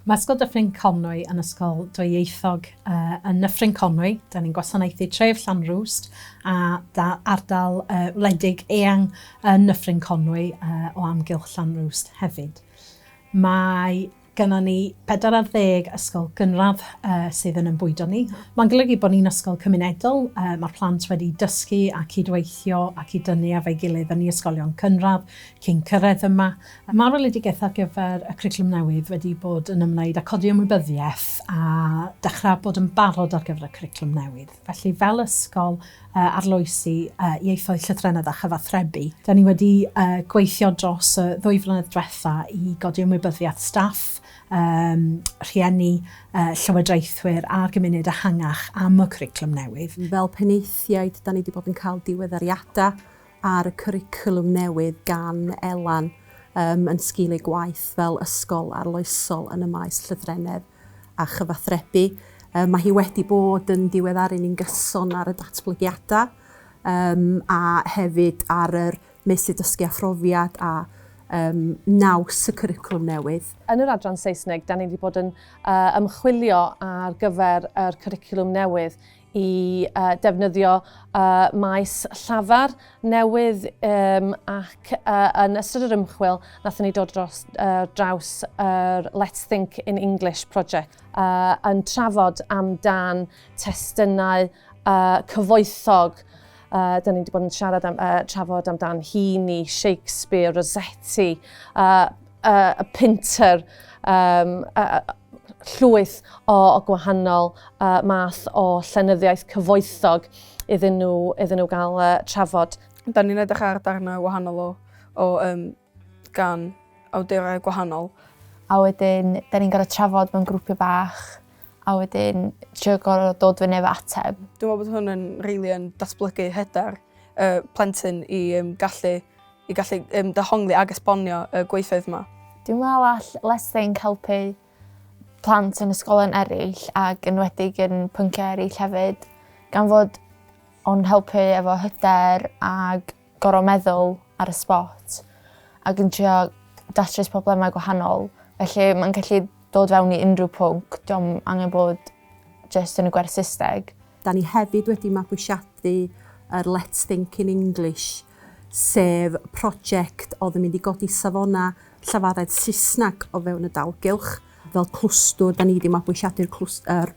Mae Ysgol Dyffryn Conwy yn ysgol dwyieithog. Uh, yn Nyffryn Conwy, da ni'n gwasanaethu tref Llanrwst a da, ardal uh, wledig eang yn Nyffryn Conwy uh, o amgylch Llanrwst hefyd. Mae gyda ni 40 ysgol gynradd uh, sydd yn ymbwydo ni. Mae'n golygu bod ni'n ysgol cymunedol, uh, mae'r plant wedi dysgu a cydweithio ac i dynnu efo'i gilydd yn ei ysgolion cynradd, Cyn cyrraedd yma, mae'r weledigaeth ar gyfer y cwricwlwm newydd wedi bod yn ymwneud â codi ymwybyddiaeth a dechrau bod yn barod ar gyfer y cwricwlwm newydd. Felly, fel ysgol arloesi ieithoedd llythrennedd a chyfathrebu, da ni wedi gweithio dros y ddwy flynedd diwetha' i godi ymwybyddiaeth staff, rhieni, llywodraethwyr a'r gymuned ehangach am y cwricwlwm newydd. Fel penaethiaid, da ni wedi bod yn cael diweddariadau ar y cwricwlwm newydd gan Elan um, yn sgil ei gwaith fel ysgol arloesol yn y maes llythrennedd a chyfathrebu. Um, mae hi wedi bod yn diweddaru ni'n gyson ar y datblygiadau um, a hefyd ar yr meysydd dysgu a phrofiad a um, naws y cwricwlwm newydd. Yn yr adran Saesneg, da ni wedi bod yn uh, ymchwilio ar gyfer yr cwricwlwm newydd i uh, defnyddio uh, maes llafar newydd um, ac uh, yn ystod yr ymchwil nathon ni dod dros uh, draws yr uh, Let's Think in English project uh, yn trafod amdan testunau uh, cyfoethog Uh, da ni wedi bod yn siarad am, uh, trafod amdan Heaney, Shakespeare, Rossetti, uh, uh, Pinter, um, uh, llwyth o, o gwahanol uh, math o llenyddiaeth cyfoethog iddyn nhw, iddyn nhw gael uh, trafod. Da ni'n edrych ar darnau wahanol o, o um, gan awdurau gwahanol. A wedyn, da ni'n gorau trafod mewn grwpiau bach a wedyn trio gorau dod fyny efo ateb. Dwi'n meddwl bod hwn yn rili yn datblygu hyder uh, plentyn i um, gallu i gallu um, dehongli ag esbonio y uh, gweithoedd yma. Dwi'n meddwl all Let's Think helpu plant yn ysgolion eraill ac yn wedig yn pynciau eraill hefyd, gan fod o'n helpu efo hyder ac gorau meddwl ar y spot ac yn trio datrys problemau gwahanol. Felly mae'n gallu dod fewn i unrhyw pwnc, diolch angen bod jyst yn y gwerth Saesneg. Da ni hefyd wedi mabwysiadu yr Let's Think in English sef project oedd yn mynd i godi safonau llafaredd Saesneg o fewn y dalgylch. Fel clwstwr, da ni wedi mabwysiadu'r er,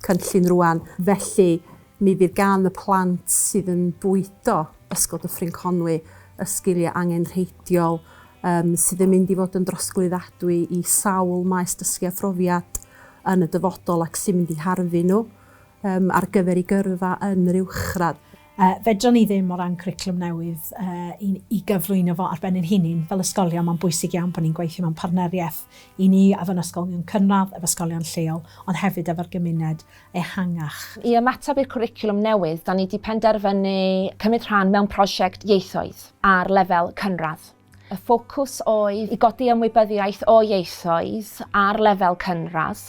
cynllun rwan, felly mi fydd gan y plant sydd yn bwydo Ysgol Dyffryn Conwy y sgiliau angenrheidiol um, sydd yn mynd i fod yn drosglwyddadwy i sawl maes dysgu a phrofiad yn y dyfodol ac sy'n mynd i harfu nhw um, ar gyfer ei gyrfa yn yr uwchradd. Yy, fedran ni ddim, o ran cwricwlwm newydd, yy, i i gyflwyno fo ar ben ein hunin, fel ysgolion, mae'n bwysig iawn bod ni'n gweithio mewn partneriaeth, i ni, efo yn ysgolion cynradd, efo ysgolion lleol, ond hefyd efo'r gymuned ehangach. I ymateb i'r cwricwlwm newydd, 'da ni 'di penderfynu cymryd rhan mewn prosiect ieithoedd ar lefel cynradd. Y ffocws oedd i godi ymwybyddiaeth o ieithoedd ar lefel cynradd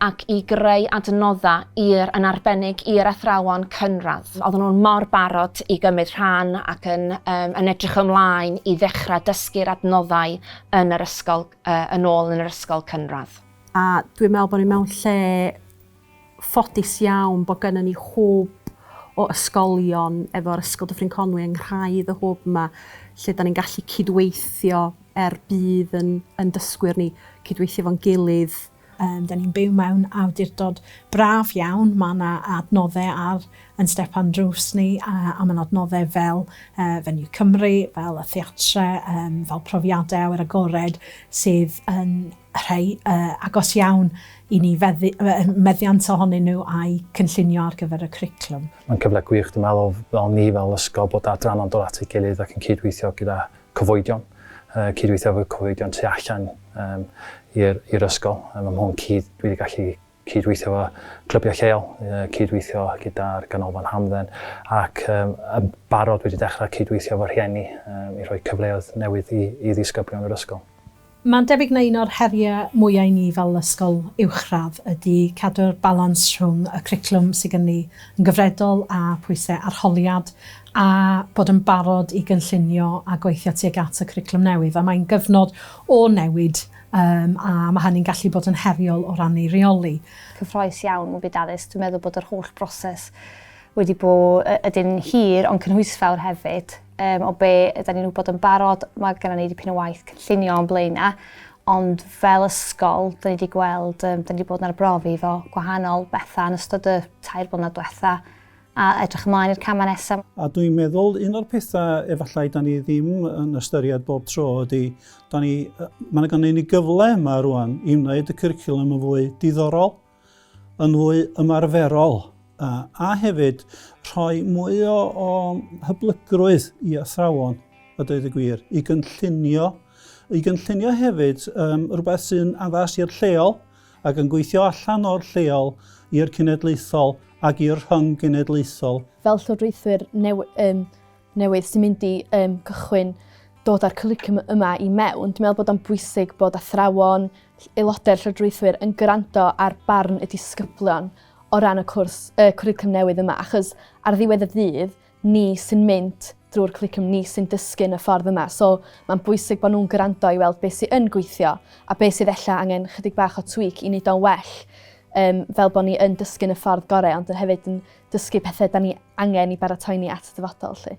ac i greu adnoddau i'r, yn arbennig i'r athrawon cynradd. Oedden nhw'n mor barod i gymryd rhan ac yn, um, yn edrych ymlaen i ddechrau dysgu'r adnoddau yn yr ysgol, uh, yn ôl yn yr ysgol cynradd. A dwi'n meddwl bod ni mewn lle ffodus iawn bod gynnon ni hwb o ysgolion efo'r Ysgol Dyffryn Conwy yng nghraidd y hwb 'ma lle 'dan ni'n gallu cydweithio er budd yn yn dysgwyr ni, cydweithio efo'n gilydd. Yym 'dan ni'n byw mewn awdurdod braf iawn, ma' 'na adnodde ar yn stepan drws ni a a ma'n adnodde fel yy Venue Cymru, fel y theatre, yym fel profiade awyr agored sydd yn rhai agos iawn i ni, meddiant ohonyn nhw a'u cynllunio ar gyfer y cwricwlwm. Mae'n cyfle gwych, dwi'n meddwl, fel ni fel ysgol, bod adranna'n dod at ei gilydd ac yn cydweithio gyda cyfoedion, cydweithio efo cyfoedion tu allan i'r ysgol. Mae hwn cudd dwi wedi gallu cydweithio efo clybiau lleol, cydweithio gyda'r Ganolfan Hamdden ac um, yn barod wedi dechrau cydweithio efo rhieni um, i rhoi cyfleoedd newydd i, i ddisgyblion yr ysgol. Mae'n debyg na un o'r heriau mwyaf i ni fel ysgol uwchradd ydy cadw'r balans rhwng y cwricwlwm sydd gen ni yn gyfredol a phwysau arholiad a bod yn barod i gynllunio a gweithio tuag at y cwricwlwm newydd a mae'n gyfnod o newid Yym, a mae hynny'n gallu bod yn heriol o ran ei reoli. Cyffroes iawn mewn byd addysg. Dwi'n meddwl bod yr holl broses wedi bod ydyn hir ond cynhwysfawr hefyd. Um, o be ydyn ni'n wybod yn barod, mae gennym ni dipyn o waith cynllunio o'n blaenau, ond fel ysgol, dyn ni wedi gweld, um, dyn ni wedi bod yn arbrofi fo gwahanol bethau yn ystod y tair blynedd diwetha, A edrych ymlaen i'r camau nesaf. A dwi'n meddwl un o'r pethau efallai da ni ddim yn ystyried bob tro ydy, da ni, mae yna gynnu ni gyfle yma rwan i wneud y cwricwlwm yn fwy diddorol, yn fwy ymarferol, a, a hefyd rhoi mwy o, o hyblygrwydd i athrawon, a dweud y gwir, i gynllunio, i gynllunio hefyd um, rhywbeth sy'n addas i'r lleol, ac yn gweithio allan o'r lleol i'r cenedlaethol ac i'r rhyng-genedlaethol. Fel llywodraethwyr newydd sy'n mynd i gychwyn dod â'r cwricwlwm yma i mewn, dwi'n meddwl bod o'n bwysig bod athrawon, aelodau'r llywodraethwyr yn gwrando ar barn y disgyblion o ran y cwrs, y cwricwlwm newydd yma, achos ar ddiwedd y dydd, ni sy'n mynd drwy'r cwricwlwm, ni sy'n dysgu yn y ffordd yma. So mae'n bwysig bod nhw'n gwrando i weld beth sy'n yn gweithio a beth sydd ella angen chydig bach o tweak i wneud o'n well um, fel bod ni yn dysgu yn y ffordd gorau ond yn hefyd yn dysgu pethau da ni angen i baratoi ni at y dyfodol. Lle.